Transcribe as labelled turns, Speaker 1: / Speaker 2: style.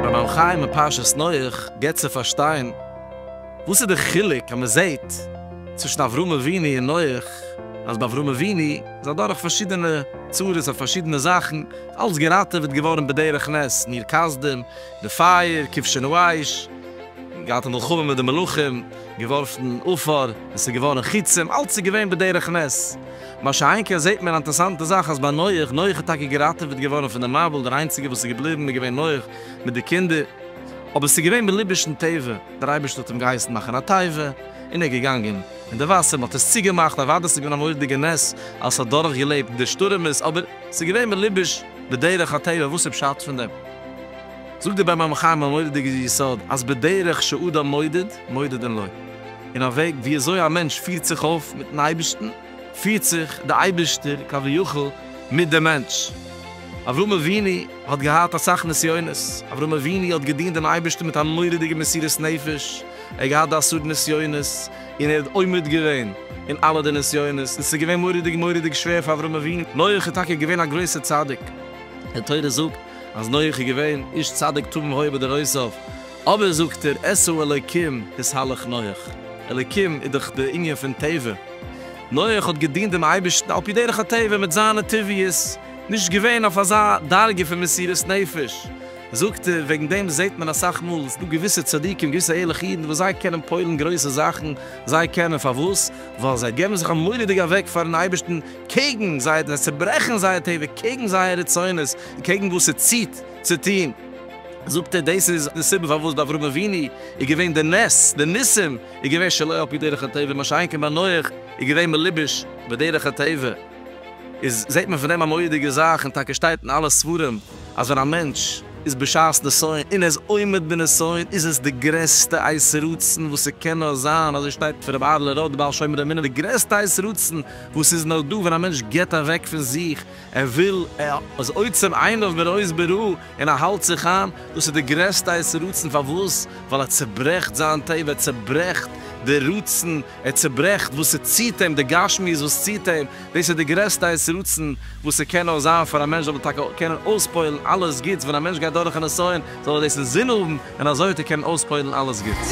Speaker 1: ביים חיים אין פרשת נח געבט צו פארשטיין וואס איז די חילוק אז מען זעט צווישן אברהם אבינו און נח אז ביי אברהם אבינו איז אדורך פארשידענע צרות אויף פארשידענע זאכן אלץ געראטעוועט געווארן בדרך נס מיר כסדים די פייער, כבשן ווייש, געהאט א מלחמה מיט די מלאכים, געווארפן עפר, עס איז געווארן חיצים, אלץ איז געווען בדרך נס. מה שאין כן זעהט מען א אינטערסאנטע זאך אז ביי נח, נח איז טאקע געראטעוועט געווארן פון די מבול, דער איינציגער וואס איז געבליבן איז געווען נח מיט די קינדער, אבער עס איז געווען בליב'ישן טבע, דער אייבערשטער האט אים געהייסן מאכן א תיבה, און ער איז געגאנגען אין די וואסער, מען האט עס צוגעמאכט, אוודאי עס איז געווען א מורא'דיגע נס אז עס האט דורכגעלעבט די שטורעמעס, אבער עס איז געווען בליב'יש. בדרך הטבע וואס איז פשט פון דעם? זאגט דער בן עמך אים א מורא'דיגע יסוד אז בדרך שאדם מודד מודדין לו, אין א וועג ווי אזוי א מענטש פירט זיך אויף מיטן אייבערשטן, פירט זיך דער אייבערשטער כביכול מיט דעם מענטש. אברהם אבינו האט געהאט אסאך נסיונות, אברהם אבינו האט געדינט דעם אייבערשטן מיט א מורא'דיגע מסירות נפש, ער האט געהאט די עשרה נסיונות, און ער האט עומד געווען אין אלע די נסיונות, און ס'איז געווען מורא'דיג מורא'דיג שווער פאר אברהם אבינו, נח איז טאקע געווען א גרויסער צדיק, די תורה זאגט אז נח איז געווען איש צדיק תמים היה בדורותיו, אבער זאגט ער עשו אלוקים את הלך נח, אלוקים איז דאך די ענין פון טבע, נח האט געדינט דעם אייבערשטן על פי דרך הטבע מיט זיינע טבעיות, נישט געווען אויף אזא דרגה פון מסירות נפש. זאגט ער, וועגן דעם זעט מען אסאך מאל, ס'דא געוויסע צדיקים, געוויסע ערליכע אידן וואס זיי קענען פועל'ן גרויסע זאכן, זיי קענען, פארוואס? ווייל זיי געבן זיך אמאל'דיג אוועק פאר'ן אייבערשטן, קעגן זייער, זיי צוברעכן זייער טבע, קעגן זייער רצונות, און קעגן וואס ס'ציט צו טון. זאגט ער, דאס איז די סיבה פארוואס ביי אברהם אבינו איז געווען די נס, די ניסים, איז געווען שלא על פי דרך הטבע, מה שאין כן ביי נח איז געווען מלובש בדרך הטבע, איז זעט מען פון דעם א מורא'דיגע זאך, און טאקע שטייט אין אלע ספרים, אז ווען א מענטש איז בשעת נסיון און ער איז עומד בנסיון איז עס די גרעסטע עת רצון וואס ס'קען נאר זיין, אזוי שטייט פון ר' אהר'לע ראט די בעל שומר אמונה, די גרעסטע עת רצון וואס איז נאר דא ווען א מענטש גיבט אוועק פון זיך, ער וויל, ער איז עוצם עיניו מראות בראה און ער האלט זיך איין, דאס איז די גרעסטע עת רצון, פארוואס? ווייל ער צעברעכט זיין טבע, ער צעברעכט די רצון. ער צעברעכט וואס ס'ציט אים, די גשמיות וואס ציט אים, דאס איז די גרעסטע עת רצון וואס ס'קען נאר זיין פאר א מענטש זאל ער טאקע קענען אויספועל'ן אלעס גוטס, ווען א מענטש גייט דורך א נסיון זאל ער דאס אינזין האבן און אזוי וועט ער קענען אויספועל'ן אלעס גוטס.